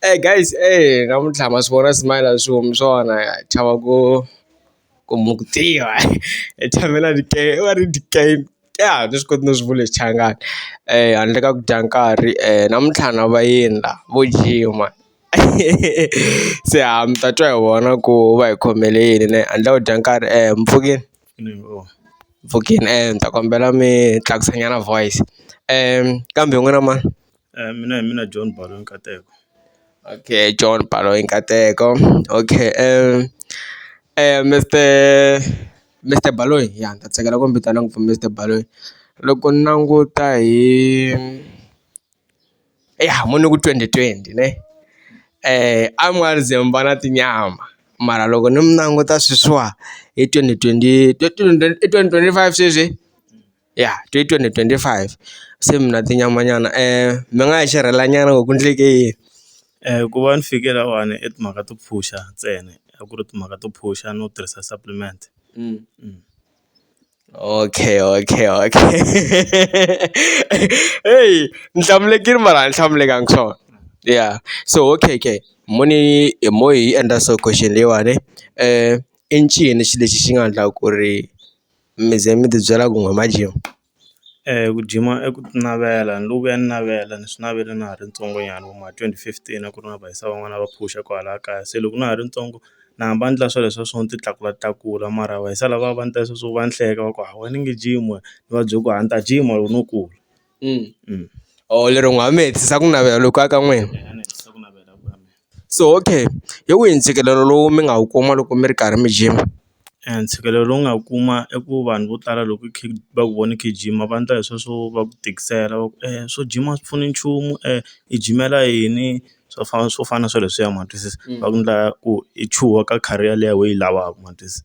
eyi guys eyi namuntlha ma swi vona smile a swi humi swona ha chava ku ku mi ku tiva hi tshame na ti game va ri ti game a ha ha nge swi koti no swi vula hi xichangani handle ka ku dya nkarhi namuntlha na vayeni la vo jima se ha mi ta twa hi vona ku va hi khomele yini ne handle ka ku dya nkarhi mpfhukeni mpfhukeni ni ta kombela mi tlakusa nyana voice kambe n'wina ma. mina hi mina John Baloi Nkateko okay John Baloi Nkateko okay Mister Mister Baloyi ya ni ta tsakela ku mi vitana ngopfu Mister Baloyi loko ni languta hi ya mo ni ku twenty twenty ne a mi nga ze mi va na tinyama mara loko ni mi languta sweswiwa hi twenty twenty i twenty twenty five sweswi. ya twenty twenty twenty five se mina tinyama nyana mi nga yi xerhela nyana ku ku endleke yini ku va ni fike lahawani i timhaka to pfuxa ntsena a ku ri timhaka to pfuxa no tirhisa supplement okay okay okay heyi ni hlamulekile mara a ni hlamulekanga swona ya so okay okay mo ni hi mo hi yi endla so question leyiwani i ncini xilo lexi xi nga endla ku ri. mi ze mi ti byela ku hi ma gym ku gym i ku navela ni lo vuya ni navela ni swi navele na ha ri ntsongo nyana vo ma twenty fifteen a ku ri na va hisa van'wana va phusha kwalaya kaya se loko na ha ri ntsongo na hamba ni endla swa leswiya swo ti tlakula tlakula mara va hisa lava va ni ta sweswo va ni hleka va ku ha wena nge gym wena ni va bye ku a ni ta gym loko no kula. mm. or oh, lero n'wi hametisa ku navela loko aka n'wina so okay hi wihi ntshikelelo lowu mi nga wu kuma loko mi ri karhi mi gym eh, ntshikelelo lowu nga kuma i ku vanhu vo tala loko va ku vona khe gym va ndla hi sweswo va ku tikisela va ku um swo gym a swi pfuni nchumu um i jimela yini swo fana swo fana na sweleswiya ma twisisa mm. va ku ndla ku i chuha ka career leyi we yi lavaka ma twisisa.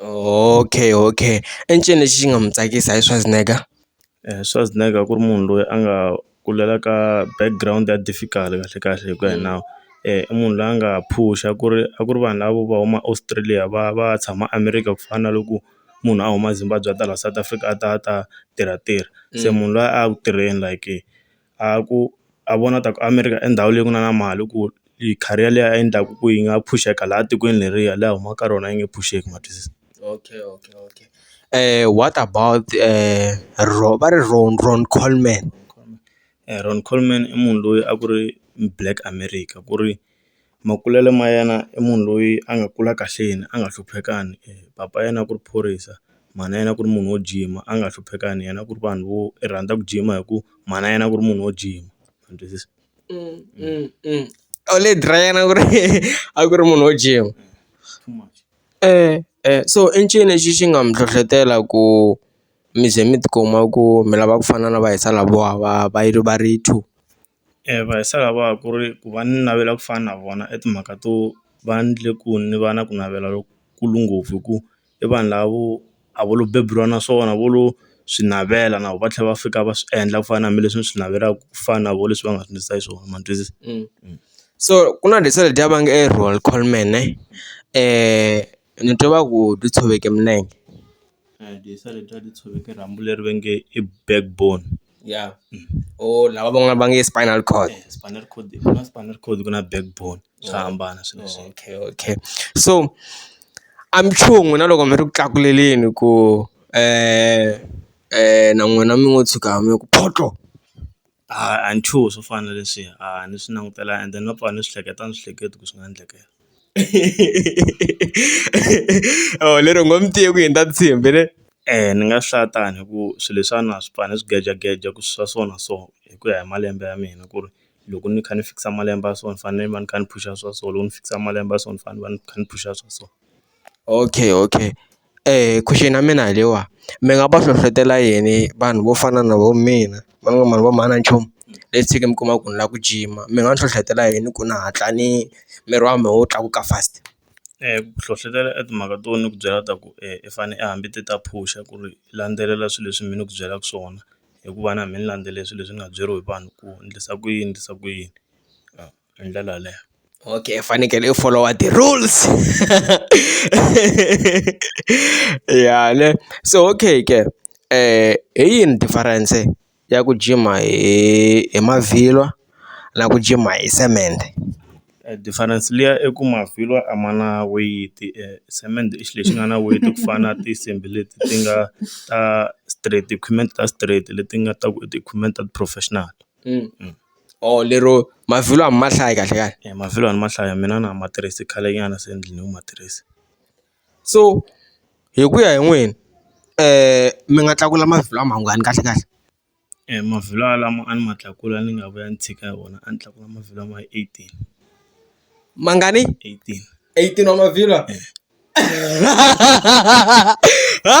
Okay okay i ncini lexi xi nga mu tsakisa hi Schwarzenegger? Schwarzenegger ku ri munhu loyi a nga kulela ka background ya difficult kahle kahle hi ku ya hi nawu i munhu loyi a nga phusha ku ri a ku ri vanhu lavo va huma Australia va va ya tshama America ku fana na loko munhu a huma Zimbabwe a ta la South Africa a ta a ta tirha tirha se munhu loyi a ya ku tirheni like. a ku a vona ta ku America i ndhawu leyi ku nga na mali ku yi career leyi a yi endlaku ku yi nga pfuxeka laha tikweni leriya laha a humaka ka rona yi nge pfuxeki ma twisisa okay okay okay what about ro va ri ro Ron Coleman Ron Coleman i munhu loyi a ku ri black America ku ri. makulelo ma yena i munhu loyi a nga kula kahle yena a nga hluphekangi papa yena a ku ri phorisa mhana yena a ku ri munhu wo gym-a a nga hluphekangi yena a ku ri vanhu vo i rhandza ku gym-a hi ku mhana yena a ku ri munhu wo gym-a ma ni twisisa a lady ra yena a ku ri a ku ri munhu wo gym so i ncini lexi xi nga mi hlohlotela ku mi ze mi tikuma ku mi lava ku fana na va hi sala vo va va yi va ri two. va hi sala va ku ri ku va ni navela ku fana na vona i timhaka to va ndle ku ni va na ku navela lokukulu ngopfu hi ku i vanhu lavo a vo lo beburiwa na swona vo lo swi navela na vo va tlhela va fika va swi endla ku fana na hambileswi ni swi navelaka ku fana na vo leswi va nga swi ndlisa xiswona ma ni twisisa so ku na leswa ledyiya va nge i roll call man ne . ni twe va ku ti tshoveke milenge rhambu leri va nge i back bone ya or lava van'wani va nge spinal cord spinal cord ku na spinal cord ku na back bone swa hambana swilo leswi okay okay so a mi chuhi n'wina loko mi ri ku tlakuleleni ku na n'wina mi ngo tshuka mi ku photo! A a ni chuhi swo fana na leswiya a ni swi langutela and then no pfa ni swi hleketa a ni swi hleketi ku swi nga endleka lero u ngo mi tivi ku yini ta ntshembi ne eya ni nga hlaya tani hi ku swilo leswiwani a swi pfa ni swi gejageja ku swa so na so hi ku ya hi malembe ya mina ku ri loko ni kha ni fikisa malembe ya so ni fanele ni va ni kha ni phusha swa so loko ni fikisa malembe ya so ni fanele ni va ni kha ni phusha swa so okay okay. question ya mina hi leyiwa mi nga va hlohlotela yini vanhu vo fana na vo mina va nga ma vona nchumu le tshinge mi kuma ku ni lava ku jima mi nga hlohlotela yini ku ni hatla ni miri wa mina wu tlakuka fast ku hlohlotela i timhaka to ni ku byela ta ku i fane i hambi ti ta phusha ku ri landzelela swilo leswi mi ni ku byelaka swona hikuva na mina ni landzele swilo leswi ni nga byeriwa hi vanhu ku endlisa ku yini ni endlisa ku yini. hi ndlela yaleyo okay i fanekele i folowa ti-rules ya ne so okay ke hi yini difference ya ku jima hi hi mavhilwa na ku jima hi cement difference liya i ku mavhilwa a ma na weyiti cement i xilo lexi nga na weyiti ku fana na tinsimbhi leti ti nga ta straight equipment ta straight leti nga ta ku i ti-equipment ta ti-professional. or lero mavhilwa a mi ma hlayi kahle kahle e mavhilwa a ni ma hlaya mina na ma tirhisi khale nyana se ni dlina ku ma tirhisa so hi ku ya hi n'wina mi nga tlakula mavhilwa mangani kahle kahle e mavhilwa lama a ni ma tlakula ni nga vuya ni tshika hi wona a ni tlakula mavhilwa ma eighteen mangani eighteen eighteen wa mavhilwa ha .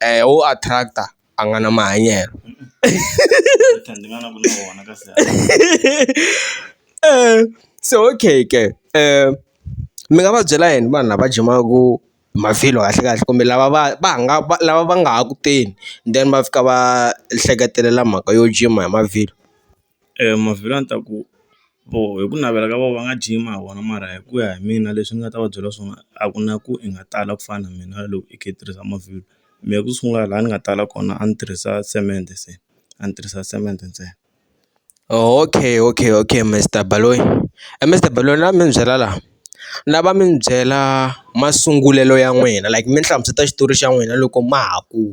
eeh wo attract-a a nga na mahanyelo se okay ke mi nga va byela yini vanhu lava jimaku mavhilwa kahlekahle kumbe lava va va nga va lava va nga ha ku teni then va fika va hleketelela mhaka yo jima hi mavhilwa. Mavhilwa a ni ta ku voho hi ku navela ka vona va nga gym hi wona mara hi ku ya hi mina leswi ni nga ta va byela swona a ku na ku i nga tala ku fana na mina loko i kha i tirhisa mavhilwa mehe ku sungula laha ni nga tala kona a ni tirhisa cement se a ni tirhisa cement ntsena. Okay okay okay Mister Baloyi Mister Baloyi ni lava mi ni byela la ni lava mi ni byela masungulelo ya n'wina like mi ni hlamusela xitori xa n'wina loko ma ha ku.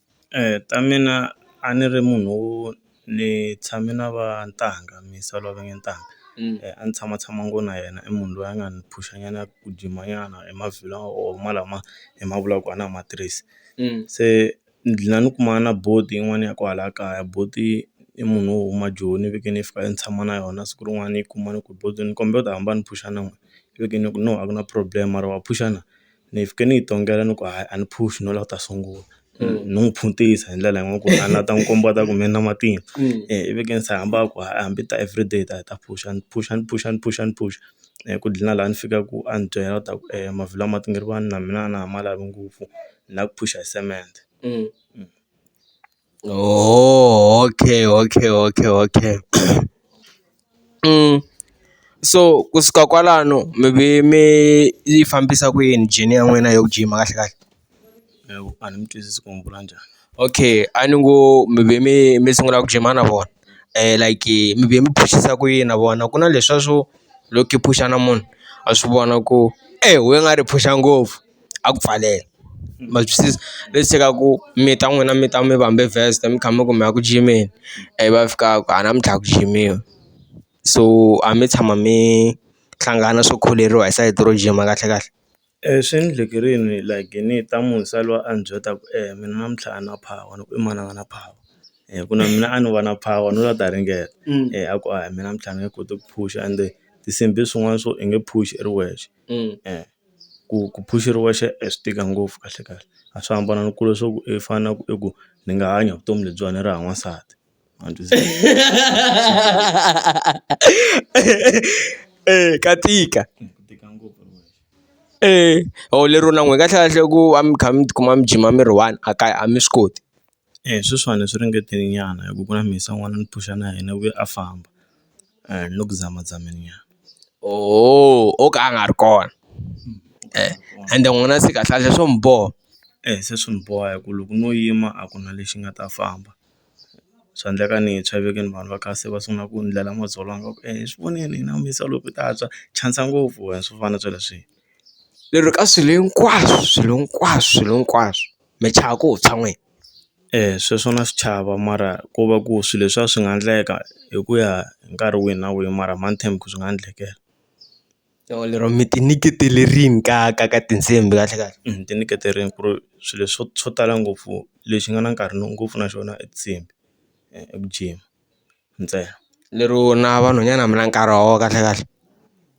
ta mina a ni ri munhu wo ni tshame na va ntanga muyisa loyi a va nge ntanga a ni tshama tshama ngopfu na yena i munhu loyi a nga ni phusha nyana a ku jima nyana hi mavhilo or ma lama hi ma vulaka ku a na ha ma tirhisi se ni dlina ni kuma na buti yin'wana ya kwala kaya buti i munhu wo huma joni ni veke ni fika ni tshama na yona siku rin'wana yi kuma ni ku buti ni kombela u ta hamba ni phusha na n'we ni veke ni ku no a ku na problem mara wa phusha na. ni yi fike ni yi tongela ni ku hayi a ni phuxi no la ku ta sungula ni n'wi phuntisa hi ndlela yin'we ku a ni la ta n'wi komba ta ku me na matimba i veke ni se hamba ku hayi hambi ta everyday hi ta hi ta phuxa ni phuxa ni phuxa ni phuxa ni phuxa ku dlina laha ni fika ku a ni byela ta ku mavhilwa ma tingirivani na mina a na ha ma lavi ngopfu ni la ku phuxa hi cement. Oh, okay, okay, okay, okay. So kusuka kwalano mi ve mi yi fambisa ku yini journey ya n'wina ya ku jima kahle kahle hawu a ni mi twisisi ku mi vula njhani okay a ni ngo mi ve mi mi sungula ku jima na vona like mi ve mi phusisa ku yini na vona ku na leswiya swo loko i phushana munhu a swi vona ku e we nga ri phusha ngopfu. a ku pfalela ma swi twisisa leswi se ka ku mi ta n'wina mi ta mi vambe vest mi kha mi ku mi ya ku jimeni ivi va fika va ku a namuntlha a ku jimiwa so a mi tshama mi hlangana swo kholeriwa hi sayiti ro jima kahle kahle swi ni endleke rini like ni ta munhu se loyi a ni byela ku e mina namuntlha a ni na power ni ku i mani a nga na power ku na mina a ni va na power no ta ringeta a ku a mina mintlha ni nge koti ku phusha ende tinsimbhi swin'wana swo i nge phusha i ri wexe . ku ku phuxuriwa xa e swi tika ngopfu kahlekahle a swi hambana ni ku leswaku i fana na ku i ku ni nga hanya vutomi lebyiwani ni ri hava n'wansati ma ni twisisa eya ka tika ku tika ngopfu hi wexe eya or lero na n'we kahlekahle ku va mi kha mi tikuma mi jima mi ri one a kaya a mi swi koti. E sweswiwani swi ringetile nyana hi ku ku na mhisi ya n'wana ni phusha na yena u ye a famba ni le ku zamazameni nyana oho o ka a nga ri kona ende n'wina se kahle kahle swo mi boha e se swi ni boha hi ku loko no yima a ku na lexi nga ta famba swa endleka ni tshwa i veke ni vanhu va ka se va sungula ku ni ndlela madzolonga va ku e hi swi vonile hina ku mhisi yaloye ku ta tshwa chavisa ngopfu wena swo fana na sweleswiya lero ka swilo hinkwaswo swilo hinkwaswo swilo hinkwaswo. mi chava ku tshwa n'wina. Eya sweswo na swi chava mara ko va ku swilo leswiya swi nga endleka hi ku ya hi nkarhi wihi na wihi mara money time ku swi nga endlekela. Or lero mi ti nyiketele rini ka ka ka tinsimbhi kahle kahle? Ni ti nyiketele rini ku ri swilo swo swo tala ngopfu lexi nga na nkarhi ngopfu na xona i tinsimbhi eku jima. ntsena. Lero na vanhwanyana mi na nkarhi wa vona kahle kahle?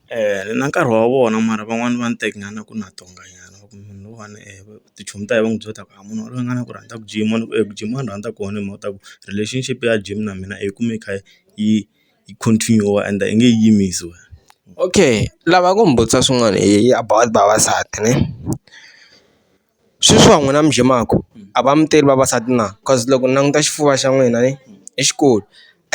Eya ni na nkarhi wa vona mara van'wani va ni teka ingaku ku na tona nyana loko munhu loyiwani tichomi ta hina va n'wi byela leswaku munhu yaloye a nga na ku rhandza ku jima ni ku eku jima wa ni rhandza ku kona hi mhaka ya ku relationship ya gym na mina hi yi kume yi kha yi yi continue-wa ende a yi nge he yimisi wena. Okay ni lava ku mi vutisa swin'wana hi about vavasati ne. Sweswi wa n'wina mi dye mako a va mi teli vavasati na cause loko ni languta xifuva xa n'wina ne i xikulu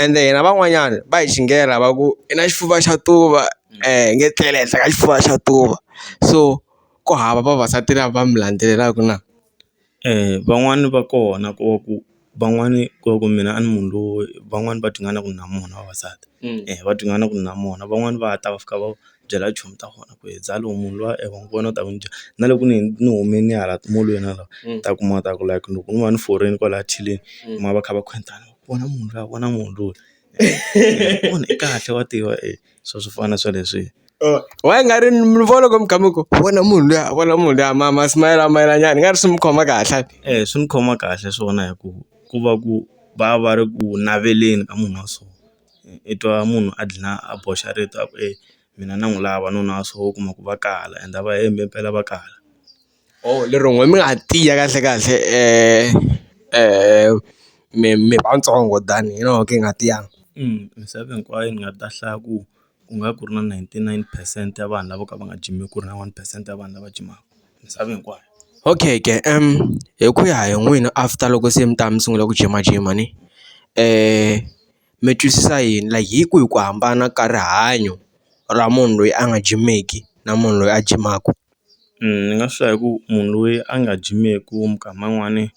ende hina van'wanyani va hi xinghela va ku i na xifuva xa tuva hi nge tlele henhla ka xifuva xa tuva so ku hava vavasati lava mi landzelelaku na van'wani va kona ku va ku. van'wani ku va ku mina a ni munhu loyi van'wani va tingana ku ni na munhu vavasati va tingana ku ni na munhu van'wani va ta va fika va byela chomi ta vona ku he zalo munhu luya e wa n'wi vona u ta ku njhani na loko ni ni humini hala timolweni hala u ta kuma ta ku like loko ni va ni foriwile kwalaya theleni u kuma va kha va khwetana vona munhu luya vona munhu luya i kahle wa tiva . swo swo fana na swo leswi why nga ri mi vona loko mi kha mi ku vona munhu luya vona munhu luya ma ma smile a mayelana njhani ni nga ri swi mi khoma kahle eya swi ni khoma kahle swona hi ku ku va ku va va ri ku naveleni ka munhu wa so i twa munhu a dlina a boxa rito a ku e mina na n'wi lava nuna wa so u kuma ku va kala ende a va hembi mpela va kala. or lero n'we mi nga tiya kahle kahle mi mi vatsongo than you know ku nga tiyanga. Misava hinkwayo ni nga ta hlaya ku ku nga ku ri na ninety nine percent ya vanhu lavo ka va nga jimi ku ri na one percent ya vanhu lava jimaka misava hinkwayo. Okay ke hi ku ya hi n'wina after loko se mi ta mi sungula ku jimajima ni . mi twisisa yini like hi kwihi ku hambana ka rihanyo ra munhu loyi a nga jimeki na munhu loyi a jimaku ni nga swi hlaya hi ku munhu loyi a nga jimeku minkama yin'wani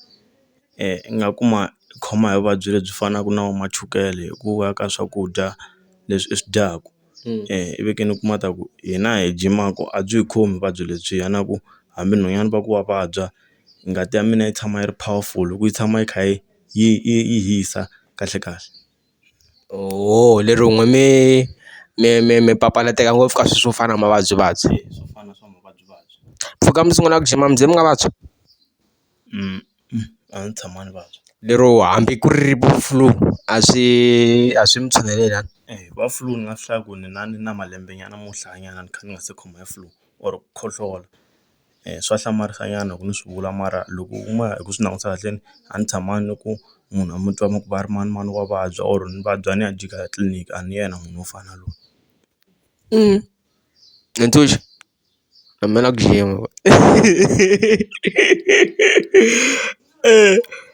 i nga kuma i khoma hi vuvabyi lebyi fanaku na vo ma chukele hi ku va ka swakudya leswi i swi dyaku i ve ke ni u kuma ta ku hina hi jimaku a byi hi khomi vuvabyi lebyiya na ku hambi nhwanyana va ku wa vabya ngati ya mina yi tshama yi ri powerful hi ku yi tshama yi kha yi. yi yi yi hisa kahle kahle oho lero n'we mi mi mi mi papalateka ngopfu ka swilo swo fana na mavabyivabyi swo fana swa mavabyivabyi mpfhuka mi sungula ku jima mi ze mi nga vabyi a ndzi tshama ni vabya lero hambi ku ri vo flu a swi a swi mi tshuneleli a va flu ni nga hlaya ku ni na ni na malembe nyana mo hlayanyana ni kha ni nga se khoma hi flu or ku khohlola. swa hlamarisa nyana loko ni swi vula mara loko u ma hi ku swi langutisa kahleni a ni tshama ni ku munhu a mi twa mi ku va ri manimani wa vabya or ni vabya ni ya jika ya tliliniki a ni yena munhu wo fana na loyi Ntshuxi a ni lava ku dlayiwa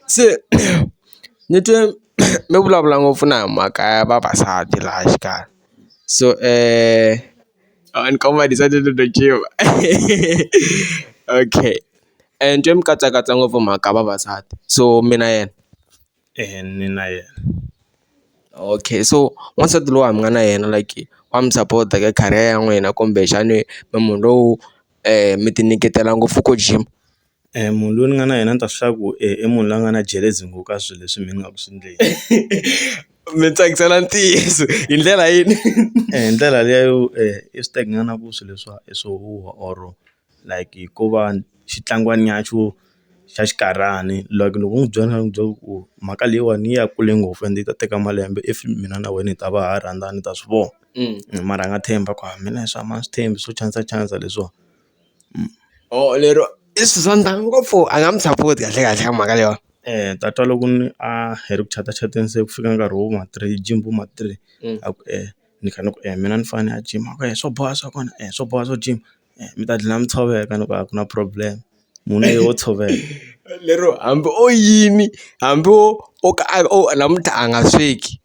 se ni twe mi vulavula ngopfu na hi mhaka ya vavasati laha xikarhi so . and come on decided to the gym okay and twa mi katsakatsa ngopfu mhaka vavasati so mi na yena eya ni na yena okay so wansati loyi a mi nga na yena like wa mi sapota ka career ya n'wina kumbexani mi munhu lowu mi ti nyiketela ngopfu ku gym. Munhu loyi ni nga na yena ni ta swi tiva ku i munhu loyi a nga na jealous ngopfu ka swilo leswi mina ni nga ku swi endleni mi tsakisana ntiyiso hi ndlela yini hi ndlela liya yo i swi teka nyana ku swilo leswiwa i swo huhwa or like ko va xitlangwana nyana xo xa xinkarhani like loko u n'wi byela u byela ku mhaka leyiwani yi ya kule ngopfu ende yi ta teka malembe if mina na wena hi ta va ha rhandzana ni ta swi vona mara a nga tshembi a ku a mina leswiwa a ni swi tshembi swo chanisa chanisa leswiwa. or lero i Suzan than ngopfu a nga mu support kahle kahle ka mhaka leyiwani tatwa loko ni a hi ri ku chatasateni se ku fika nkarhi wo ma three gym vo ma three a ku e ni kha ni ku e mina ni fane ni ya gym a ku e swo boha swa kona e swo boha swo gym mi ta gina mi tshoveka ni ku a ku na problem munhu i wo tshoveka lero hambi o yini hambi o o ka a namuntlha a nga sweki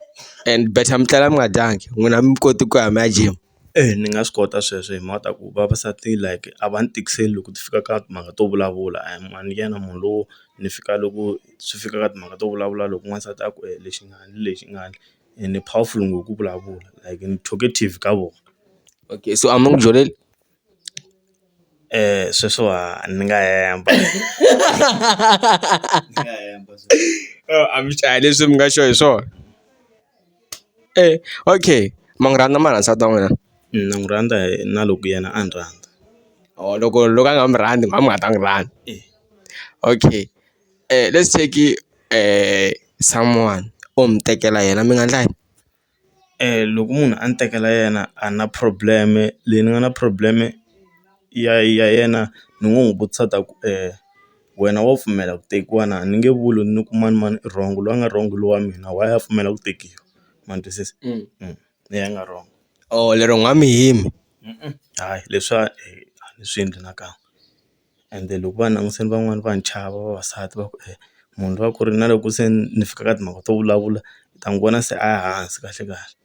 and better mi tlela mi nga dyangi n'wina a mi koti ku ya mi ya gym. Eya ni nga swi kota sweswo hi mhaka ya ku vavasati like a va ni tikiseli loko swi fika ka timhaka to vulavula a ni mhani yena munhu lowo ni fika loko swi fika ka timhaka to vulavula loko n'wansati a ku e lexi nga ni lexi nga ni ene powerful ngopfu ku vulavula like ni talkative ka vona okay so a ma ku byeli sweswo a ni nga hemba a mi swi dlaya leswi mi nga sure hi swona. okay ma n'wi rhandza mara nsati wa n'wina na n'wi rhandza hi na loko yena a ni rhandza or loko loko a nga mi rhandzi mhani mi nga ta n'wi rhandza okay let's take someone o mi tekela yena mi nga ndla yini loko munhu a ni tekela yena a na problem leyi ni nga na problem ya ya yena ni ngo n'wi vutisa ta ku . wena wa pfumela ku tekiwa na ni nge vuli ni ku mani mani i wrong loyi a nga wrong lowa mina why a pfumela ku tekiwa ma ni twisisa leyi a nga wrong or lero n'wa mi yimi hayi leswa a ni swi endli nakan'we ende loko va langutile van'wani va ni chava vavasati va ku munhu loyi a ku ri na loko se ni fika ka timhaka to vulavula u ta n'wi vona se a hansi kahle kahle.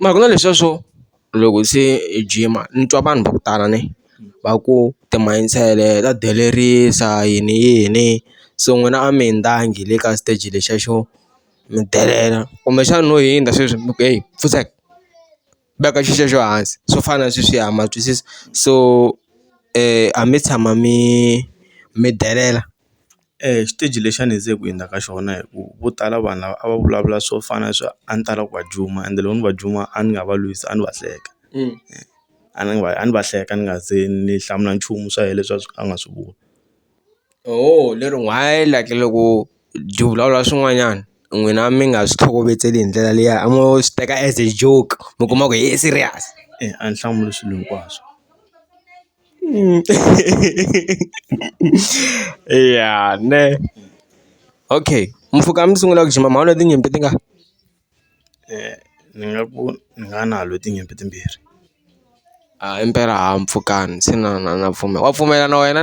Mara ku na leswiya swo loko se i jima ni twa vanhu va ku tala ne va ku timansele ta delerisa yini yini so n'wina a mi hundza le ka xiteji lexiya xo mi delela kumbexana no hundza sweswi mi ku heyi pfuxek veka xi xexo hansi swo fana na sweswiya ma twisisa so a mi tshama mi mi delela. xiteji lexi a ni ze ku hundza ka xona hi ku vo tala vanhu lava a va vulavula swo fana na swa a ni tala ku va juma ende loko ni va juma a ni nga va lwisi a ni va hleka a ni va a ni va hleka ni nga se ni hlamula nchumu swa yena leswi a swi a nga swi vula ho lero why like loko byi vulavula swin'wanyana n'wina mi nga swi tlhokovetseli hi ndlela liya a mo swi teka as a joke mi kuma ku i serious a ni hlamuli swilo hinkwaswo. ya nṋe okay mufuka musi u nga u tshi mama hone dzi nyimbo dzi nga ni nga ku ni nga na lo ti nyimpi timbirhi a impela ha mpfhukani se na na na pfumela wa pfumela na wena.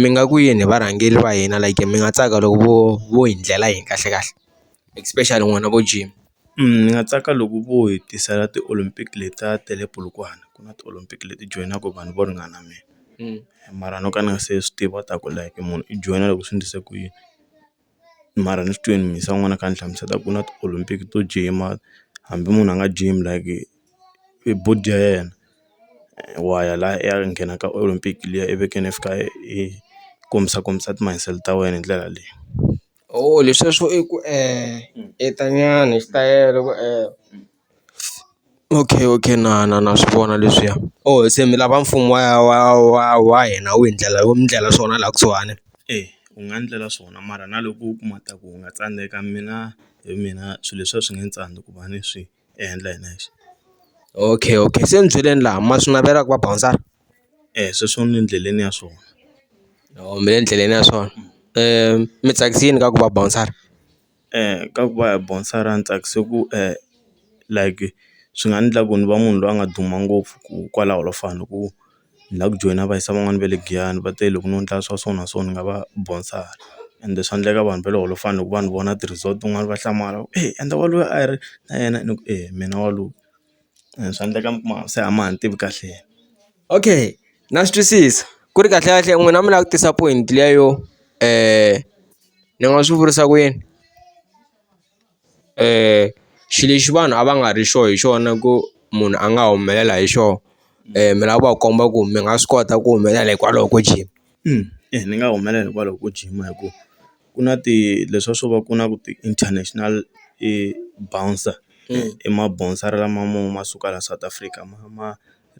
mi nga ku yini hi varhangeri va hina like mi nga tsaka loko vo vo hi ndlela yini kahle kahle especially n'wina vo gym ni nga tsaka loko vo hi tisela ti Olympic leta ta le Polokwane ku na ti Olympic leti joyinaka vanhu vo ringana mina mara no ka ni nga se swi tiva ku ta ku like munhu i joyina loko swi endlise ku yini. mara ni swi twini mhisi ya n'wina a kha a ni hlamusela ku na ti-olympic to gym-a hambi munhu a nga gym like i body ya yena wa ya la ya nghena ka olympic liya i veke ni fika i kombisa kombisa ti muscle ta wena hi ndlela leyi leswiya swo eku e ta nyana xitayele ku . Okay okay na na na swi vona leswiya oh se mi lava mfumo wa wa wa wa hina wu hi ndlela wu mi ndlela swona laha kusuhani eya wu nga ndlela swona mara na loko u kuma ta ku wu nga tsandzeka mina hi mina swilo leswiya swi nge ni tsandza ku va ni swi endla hi nexe okay okay se ni byeleni laha ma swi navelaka va bounce eya sweswo ni le endleleni ya swona or mi le endleleni ya swona mi tsakisini ka ku va bouncer. ka ku va hi bonsara ni tsakise ku like swi nga endla ku ni va munhu loyi a nga duma ngopfu ku kwalaho la fana ni ku ni la ku joyina va yisa van'wani va le Giyani va te loko no ndla swa so na so ni nga va bonsara ende swa ndleka vanhu va le holofani loko va ni vona ti-resort tin'wani va hlamala va ku endla wa loyi a hi ri na yena ni ku mina wa loyi. swa endleka mi kuma se a ma ha ni tivi kahle okay na swi twisisa ku ri kahle kahle n'wina mi lava ku tisa point liya yo ni nga swi vurisa ku yini xi lexi vanhu a va nga ri sure hi xona ku munhu a nga humelela hi xoho mi lava ku va komba ku mi nga swi kota ku humelela hikwalaho ko gym ni nga humelela hikwalaho ko gym hi ku ku na ti leswa swo va ku na ku ti-international bouncer i ma bouncer lama mo ma suka la South Africa ma ma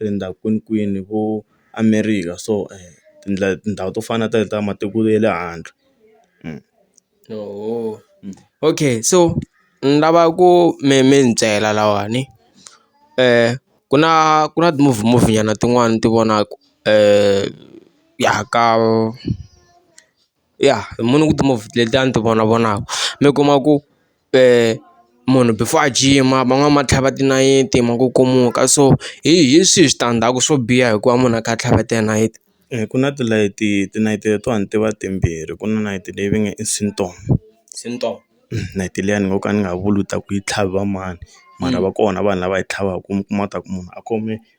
rindza kwini kwini vo America so tindlela tindhawu to fana na ta ta matiko ya le handle okay so ni lava ku mi mi ni byela lahawani ku na ku na ti-movie movie nyana tin'wani ni ti vonaku ya ka. ya hi munhu ku timovha letiyani ti vona vonaka mi kuma ku munhu before a jima van'wani va tlhava tinayiti ma ku kumuka so hi hi swihi switandzhaku swo biha hikuva munhu a kha a tlhava tinayiti. Eya ku na tilayiti tinayiti letiwani ti va timbirhi ku na nayiti leyi va nge i Syndrom Syndrom nayiti liyani ni ngo ka ni nga vuli ku ta ku yi tlhaviwa mani mara va kona vanhu lava yi tlhavaku mi kuma ku ta ku munhu a khome.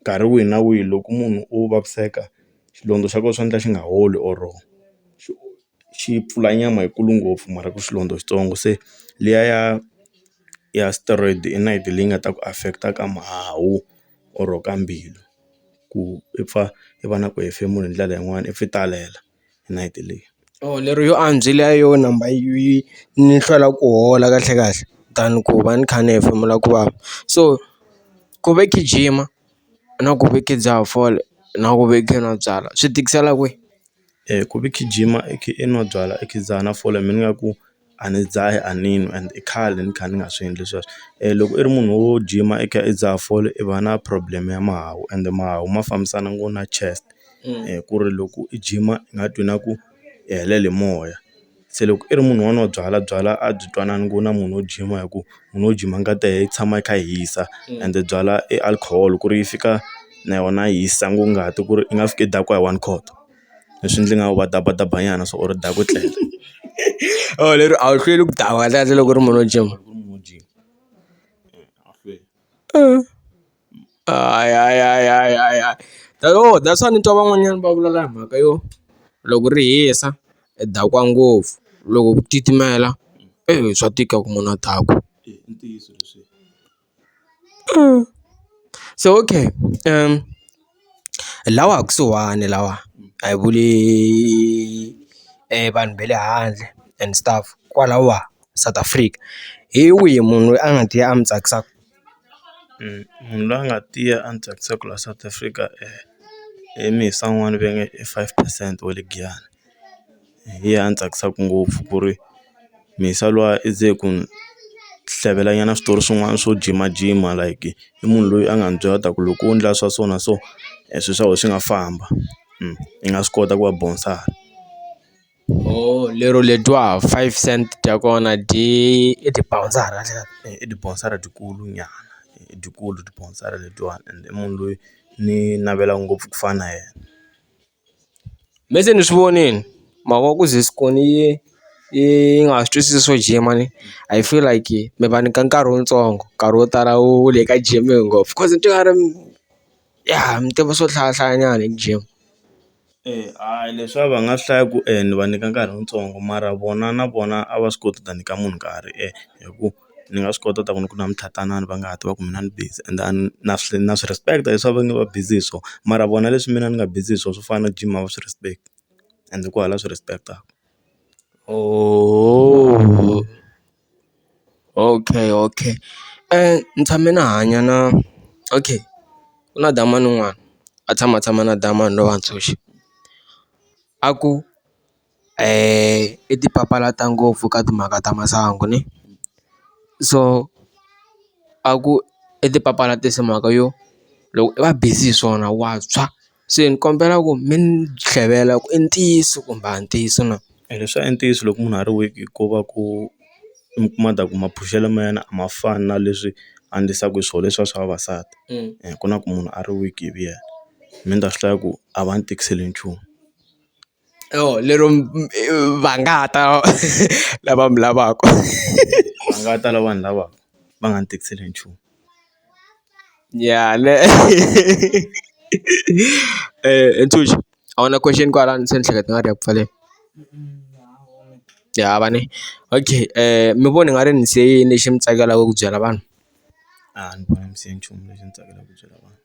nkarhi wihi na wihi loko munhu o vaviseka xilondza xa kona swa endla xi nga holi or xi xi pfula nyama yikulu ngopfu mara ku xilondza xitsongo se liya ya ya steroid i nayiti leyi nga ta ku affect-a ka mahawu or ka mbilu ku i pfa i va na ku hefemula hi ndlela yin'wani i pfa i talela. n'hweti leyi or lero yo andzisa yo number yi ni hlwela ku hola kahle kahle than ku va ni kha ni hefemula ku vava so ku ve kha ni jima na ku ve kha ni dzaha fole na ku ve ni kha ni nwa byalwa swi tikisela kwihi ku ve kha ni jima i kha i nwa byalwa i kha i dzaha na fole mina ingaku. a ni dzahi a ni n'wi and i khale ni kha ni nga swi endli sweswo loko i ri munhu wo gym-a i kha i dzaha fole i va na problem ya mahawu ende mahawu ma fambisana ngo na chest ku ri loko i gym-a i nga twi na ku i helele hi moya se loko i ri munhu wa nwa byalwa byalwa a byi twanani ngo na munhu wo gym-a hi ku munhu wo gym-a ngati ya yena yi tshama yi kha yi hisa ende byalwa i alcohol ku ri yi fika na yona yi hisa ngo ngati ku ri i nga fiki i dakiwa hi one court. leswi ndzi nga badabadaba nyana swa or u daka u tlele or lero a wu hlweli ku dawa kahle kahle loko u ri munhu wo gym hayi tanihi that's why ni twa van'wanyana va vulavula hi mhaka yo loko ri hisa i dakwa ngopfu loko ku titimela swa tika ku munhu a dakwa. so okay lawa kusuhani lawa a hi vuli vanhu va le handle and stuff kwalaho South Africa hi wihi munhu loyi a nga ti ya a mi tsakisaka munhu loyi a nga tiya a ni tsakisaka laha South Africa i Mhisa n'wana va nge i five percent wa le Giyani. hi yena a ni tsakisaka ngopfu ku ri Mhisa luya i ze ku ni hlevela nyana switori swin'wana swo jimajima like i munhu loyi a nga ni byela ta ku loko wo endla swa so na so swilo swa wena swi nga famba i nga swi kota ku va bonsala lero ledyiwa five cents dya kona dyi i tibawunsara i tibawunsara dyikulu nyana i dyikulu tibawunsara ledyiwani and i munhu loyi ni navelaka ngopfu ku fana na yena. Me se ni swi vonile mhaka ku ze Scorn yi yi nga ha swi twisisi swo jima ni I feel like mi va nyika nkarhi wutsongo nkarhi wo tala wu le ka jime ngopfu coz ni twa nga ri ya mi tiva swo hlaya hlaya nyana hi jima. Eya a hi leswi a va nga swi hlaya ku ni va nyika nkarhi wutsongo mara vona na vona a va swi koti ku ta nyika munhu nkarhi hi ku. ni nga swi kota ku ta ku ni ku na mitlhatlhanani va nga ha tiva ku mina ni busy and a ni na swi na swi respect leswi va nge va busy hi swona mara vona leswi mina ni nga busy hi swona swo fana na gym a va swi respect and ku hava la swi respect-aka okay okay ni tshame ni hanya na okay ku na damani un'wana a tshama a tshama na damani lowa a ku. i ti papalata ngopfu ka timhaka ta masangu ni so a ku i ti papalatisa mhaka yo loko i va busy hi swona wa tshwa se ni kombela ku mi ni tlhevela ku i ntiyiso kumbe a hi ntiyiso na e leswa i ntiyiso loko munhu a ri weak ko va ku mi kuma ta ku maphushelo ma yena a ma fani na leswi a endlisaku hi swo leswiya swa vavasati ku na ku munhu a ri weak hi vu yena me ni ta swi hlaya ku a va ni tikiseli nchumu. oh lero va nga ta lava mi lavaka va nga ta lava vanhu lava va nga ni tikiseli hi nchumu ya ne Thuli a wu na question kwalano se ni hleketa nga ri ya ku pfaleni ya hava ne okay mi vona i nga ri ni se yini lexi mi tsakelaka ku byela vanhu a ni voni se nchumu lexi ni tsakelaka ku byela vanhu.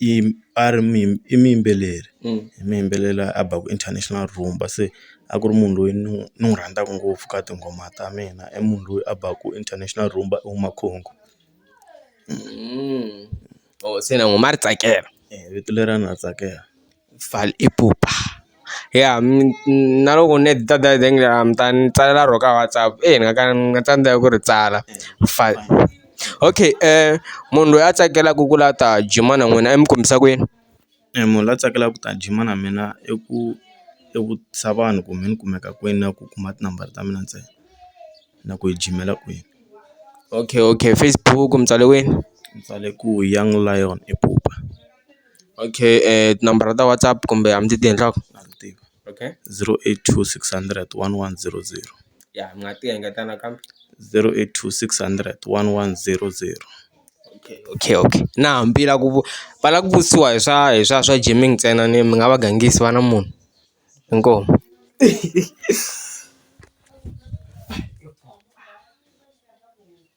i a ri i muyimbeleri i muyimbeleri la a baku international rumba se a ku ri munhu loyi ni n'wi ni n'wi rhandzaka ngopfu ka tinghoma ta mina i munhu loyi a baku international rumba i huma Congo se na n'wi ma ri tsakela vito leriya na ri tsakela. Vaal ipupa ya na loko ni heta data ni ta ni tsalela ro ka WhatsApp ni nga ka ni nga tsandzeka ku ri tsala fal okay munhu loyi a tsakelaka ku la ta gym-a na n'wina i mi kombisa ku yini munhu la tsakelaka ku ta gym-a na mina i ku i vutisa vanhu ku mi ni kumeka kwini na ku kuma tinambara ta mina ntsena na ku hi jimela kwini okay okay Facebook mi tsale kwini ni tsale ku young lion ipupa. Okay tinambara ta WhatsApp kumbe a mi ti tivi nhlokomhaka na ti tiva okay zero eight two six hundred one one zero zero ya mi nga ti engetela nakambe zero eight two six hundred one one zero zero okay okay okay na hambi va ku va lava ku vutisiwa hi swa hi swa swa Jamming ntsena ni mi nga va gangisi va na munhu inkomu.